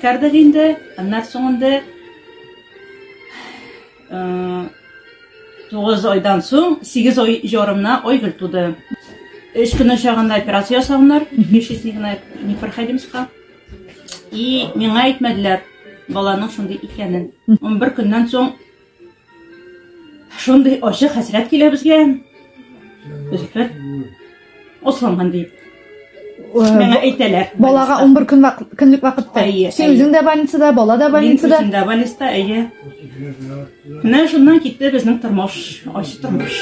Үткәрдек инде, аннар соңында тугыз айдан соң сигез ай жарымна айгөл туды өч көн очагында операция ясаганнар нечестникна непроходимскка и миңа әйтмәделәр баланың шундый икәнен он бер көннән соң Шундый ачы хәсрәт килә безгә. Үзәкләр осланган дип. Миңа әйтәләр. Балага 11 көн вак, көнлек вакытта. Син үзең дә больницада, бала да больницада. Мин үзем дә больниста, әйе. Менә шуннан китте безнең тормыш, ачы тормыш.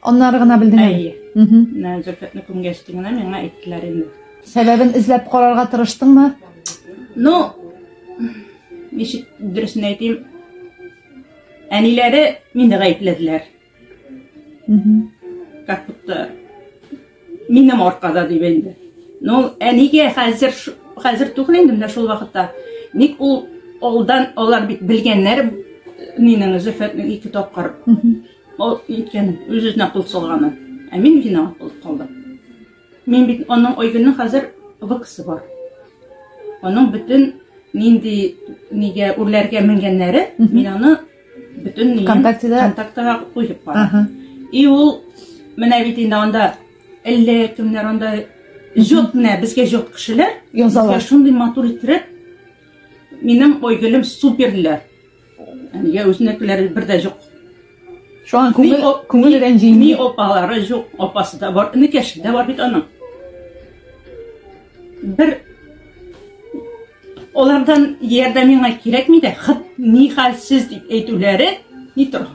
Аннары гына белдең әле? Әйе. Менә Зөлфәтне күмгәч генә миңа әйттеләр инде. Сәбәбен эзләп карарга тырыштыңмы? Ну, ничек дөресен әйтим, әниләре мине гаепләделәр. Как будто минем аркада дип инде. Ну, әнигә хәзер хәзер түгел инде менә шул вакытта. Ник ул алдан алар бит белгәннәр минең Зөлфәтнең ике тапкыр Ул ниткән, үз-үзенә кул салганы. Ә мин виноват булып калдым. Мин бит аның Айгөлнең хәзер выксы бар. Аның бөтен нинди нигә үрләргә менгәннәре, мин аны бөтен контактыда контактыга куеп бардым. И ул менә бит инде анда әллә кемнәр анда җот менә безгә җот кешеләр язалар. Шундый матур иттереп минем Айгөлем суперләр. Әнигә үзенекеләре бер дә жук. Шуңа күңел күңел рәнҗи. Ни опалары жук, опасы да бар, инекәше дә бар бит аның. Бер олардан ярдәм миңа кирәкми дә, хат ни хәлсез дип әйтүләре ни тора.